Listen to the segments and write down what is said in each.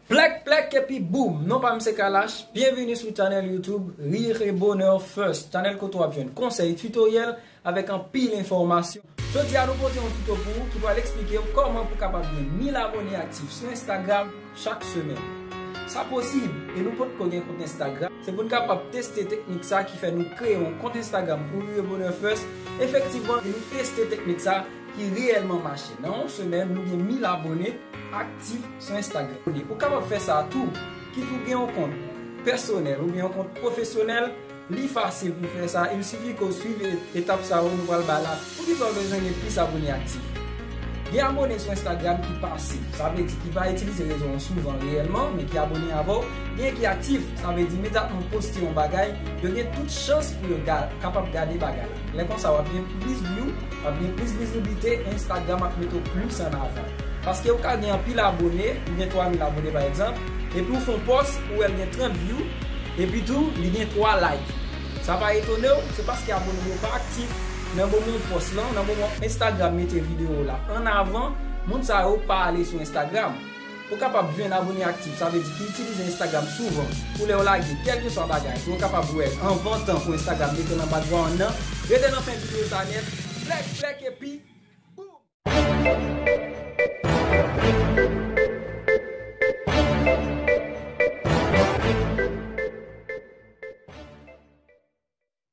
Plèk plèk epi boom! Non pa m se Kalash, byenvini sou channel YouTube Rire et Bonheur First, channel kote w ap jwenn konsèy, tutoriel avèk anpil enfòmasyon. Jodi a nou pote yon tuto pou ou ki pral eksplike w kòman pou kapab gen 1000 abone aktif sou Instagram chak semèn. Sa posib e nou potko gen kont Instagram, se pou n kapab teste teknik sa ki fè nou kreye yon kont Instagram pou Rire et Bonheur First, efektivman nou teste teknik sa, ki reyèlman mache. Nan yon semèn, nou gen 1000 abone aktif sou Instagram. Ou kapab fè sa tou, kit ou gen yon kont pèsonèl oubyen yon kont pwofesyonèl, li fasil pou fè sa, il sifi ke w swiv etap sa yo nou pral bay la. Poukisa ou bezwen gen plis abone aktif? Gen abone sou Instagram ki pasif, sa vle di ki pa itilize rezo an souvan reyèlman, men ki abone avè w, gen ki aktif, sa vle di imediatman w poste yon bagay, yo gen tout chans pou yo kapab gade bagay la. Lè konsa wap gen plis view, wap gen plis viziblite e Instagram ap mete w plis an avan. Paske ou ka gen anpil abone, ou gen 3 mil abone pa egzanp, epi ou fè yon pòs ou wè l gen 30 view, epi tou li gen 3 like. Sa pa etone w, se paske abone w yo pa aktif, nan moman w pòs lan, nan moman Instagram mete videyo w la an avan, moun sa yo pa ale sou Instagram. Ou kapab vin abone aktif, sa vle di ki itilize Instagram souvan pou lè ou lage kèlkeswa bagay pou yo kapab wè l anvan tan pou Instagram mete l anba dwa an nan. Rete nan fen videyo sa nèt, flèk flèk epi boom!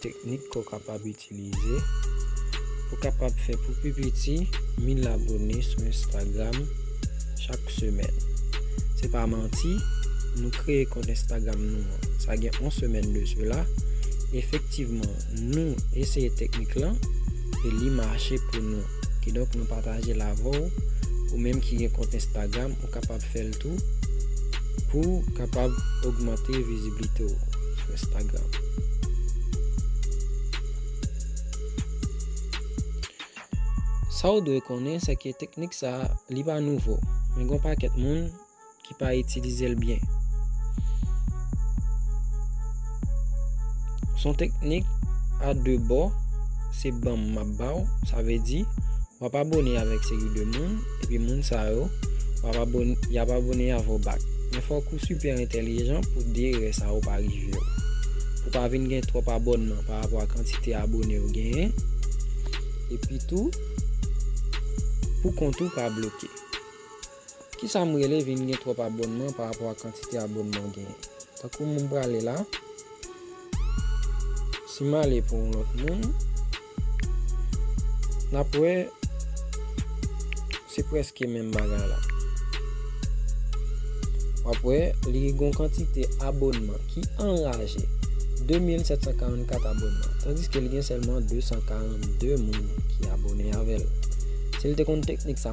Teknik ke w kapab itilize, Ou kapab fè pou pi piti 1000 abone sou Instagram chak semèn. Se pa manti, nou kreye kont Instagram nou an, sa gen yon semèn de sela. Efektivman, nou eseye teknik lan e li mache pou nou. Kidonk nou pataje l avè w, ou menm ki gen kont Instagram. Ou kapab fè l tou pou w kapab ogmante viziblite w sou Instagram. Sa w dwe konnen se ke teknik sa a li pa nouvo, men gen yon pakèt moun ki pa itilize l byen. Son teknik a 2 bò, se banm m ap ba w, sa vle di Wap abone avek seri de moun epi moun sa yo wap abone yap abone avw back men fok ou super entelijan pou de erè sa yo pa rivew pou pa vin gen trop abònman pa rapò a kantite abonew genyen epi tou pou kont ou pa bloke. Kisam rele vin gen twòp abònman pa rapò a kantite abònman ou genyen. Tankou m prale la, si m ale pou yon lòt moun, n ap wè se prèske menm bagay la. W ap wè li gen yon kantite abònman ki anraje, 2744 abònman. Tandiske li gen sèlman 242 moun ki abòne avè l. Si l te konn teknik sa.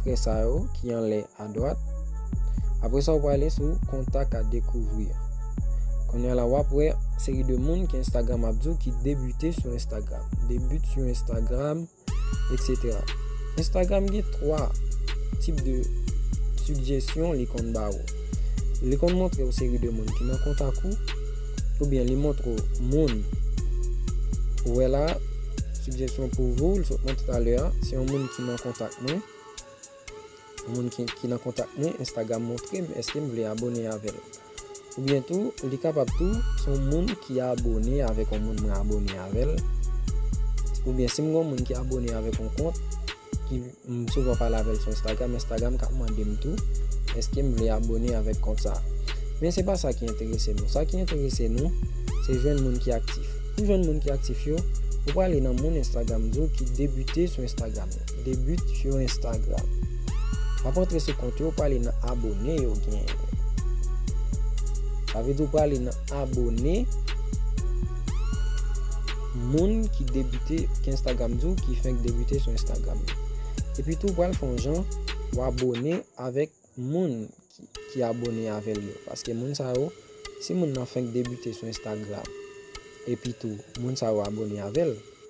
Trè sa yo ki anlè adwat. Apre sa ou prale sou kontak a dekouvri. Kounye la wap wè seri de moun ki Instagram ap di ki debute sou Instagram. Debute sou Instagram, etc. Instagram gen 3 tip de sugjesyon li konn ba ou. Li konn montre ou seri de moun ki nan kontak ou. Ou byen li montre ou moun. Ou wè la. Sigjèsyon pou vou, l sot monte talè a, se yon moun ki nan kontak mwen. Yon moun ki nan kontak mwen, Instagram montre m eske m vle abone avè l. Oubyen tou, li kapab tou, se yon moun ki abone avèk yon moun mwen abone avè l. Oubyen si m gen yon moun ki abone avèk yon kont. ki m souvan pale avèl sou Instagram, Instagram ka mande m tou eske m vle abone avèk kont sa. Men se pa sa ki enterese nou, sa ki enterese nou se jwenn moun ki aktif. Pou jwenn moun ki aktif yo, ou prale nan moun Instagram di w ki debute sou Instagram yo, debute sur Instagram. W ap antre sou kont yo, w prale nan abone yo genyen yo. Sa vle di w prale nan. abone moun ki debute ki instagram di w ki fenk debute sou instagram epi tou pral fon jan w abone avèk moun ki abone avèl yo paske moun sa yo si moun nan fenk debute sou instagram epi tou moun sa yo abone avèl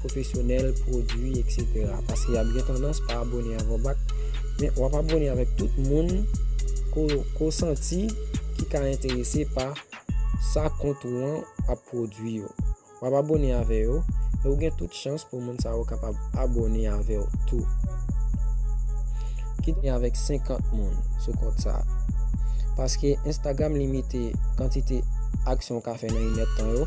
pwofesyonèl, pwodwi, etc. Paske yap gen tandans pa abone avan bak, men wap abone avèk tout moun ko ko santi ki ka enterese pa sa kont ou an ap pwodwi yo. Wap abone avè yo, e ou gen tout chans pou moun sa yo kapab abone avèw tou. Kit gen avèk 50 moun sou kont sa. Paske Instagram limite kantite aksyon ou ka fè nan 1 èd tan yo.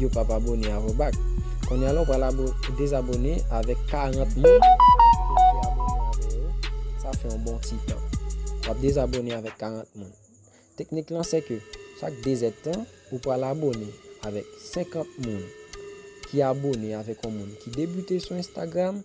yo pap abone avè w bak konnya la w pral dezabone avèk 40 moun ke w te abone avè yo sa fè yon bon ti tan wap dezabone avèk 40 moun teknik lan se ke chak 2 zèd tan ou pral abone avèk 50 moun ki abone avèk yon moun ki debute sou Instagram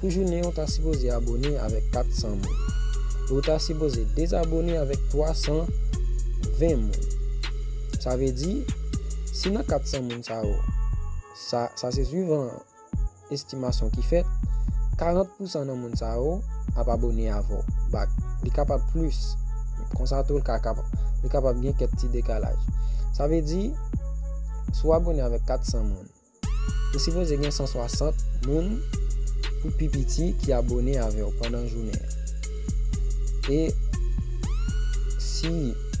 Pou jounen an ou ta sipoze abone avèk 400 moun e ou ta sipoze dezabone avèk 320 moun. Sa vle di, si nan 400 moun sa yo, sa se swivan estimasyon ki fèt, 40 pousan nan moun sa yo ap abone avè w bak. Li kapab plis, konsa tou li kapab gen kèk ti dekalaj. Sa vle di, si w abone avèk 400 moun, Ou sipoze gen 160 moun pou pi piti ki abone avèw pandan jounen an. E si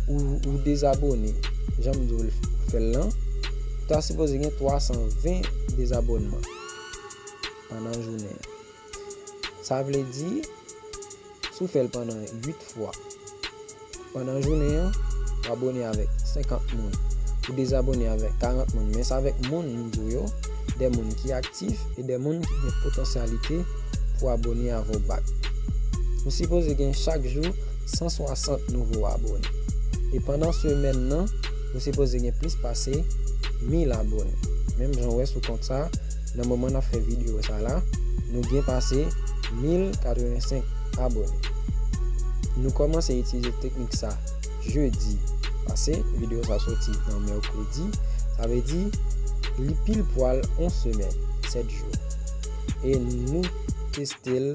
ou dezabone janm diw fèl lan, ou ta sipoze gen 320 dezabònman pandan jounen an. Sa vle di, si w fè l pandan 8 fwa, pandan jounen an, w abone avèk 50 moun, ou dezabone avèk 40 moun, men sa avèk moun m di w yo, de moun ki aktif e de moun ki gen potansyalite pou abone avè w bak. M sipoze gen chak jou 160 nouvo abone. E pandan semèn nan, m sipoze gen plis pase 1000 abone. Menm jan w wè sou kont sa. nan moman nap fè video sa la nou gen pase 1085 abone nou komanse itilize teknik sa jeudi pase video sa soti nan mercredi sa vle di li pil pwal on semèn 7 jou e nou testel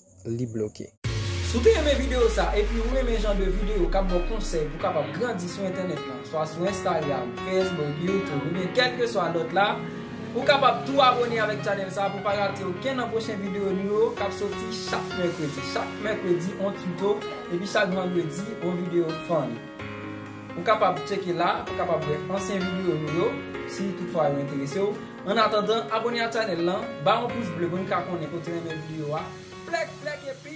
li bloke. Si w te renmen videyo sa epi ou renmen jan de videyo kap baw konsèy pou kapab grandi sou entènèt lan, swa sou Instagram, Facebook, YouTube oubyen kèlkeswa lòt la, ou kapab tou abone avèk channel sa pou pa rate okenn nan pwochen videyo nou yo kap soti chak mèkredi. Chak mèkredi on tuto epi chak vandredi on videyo fun. Ou kapab tcheke la pou kapab wè ansyen videyo nou yo si tout fwa yo enterese w. An atandan abone a chanel lan, ba yon pous ble pou n ka konnen ke w te renmen video a, plèk plèk epi.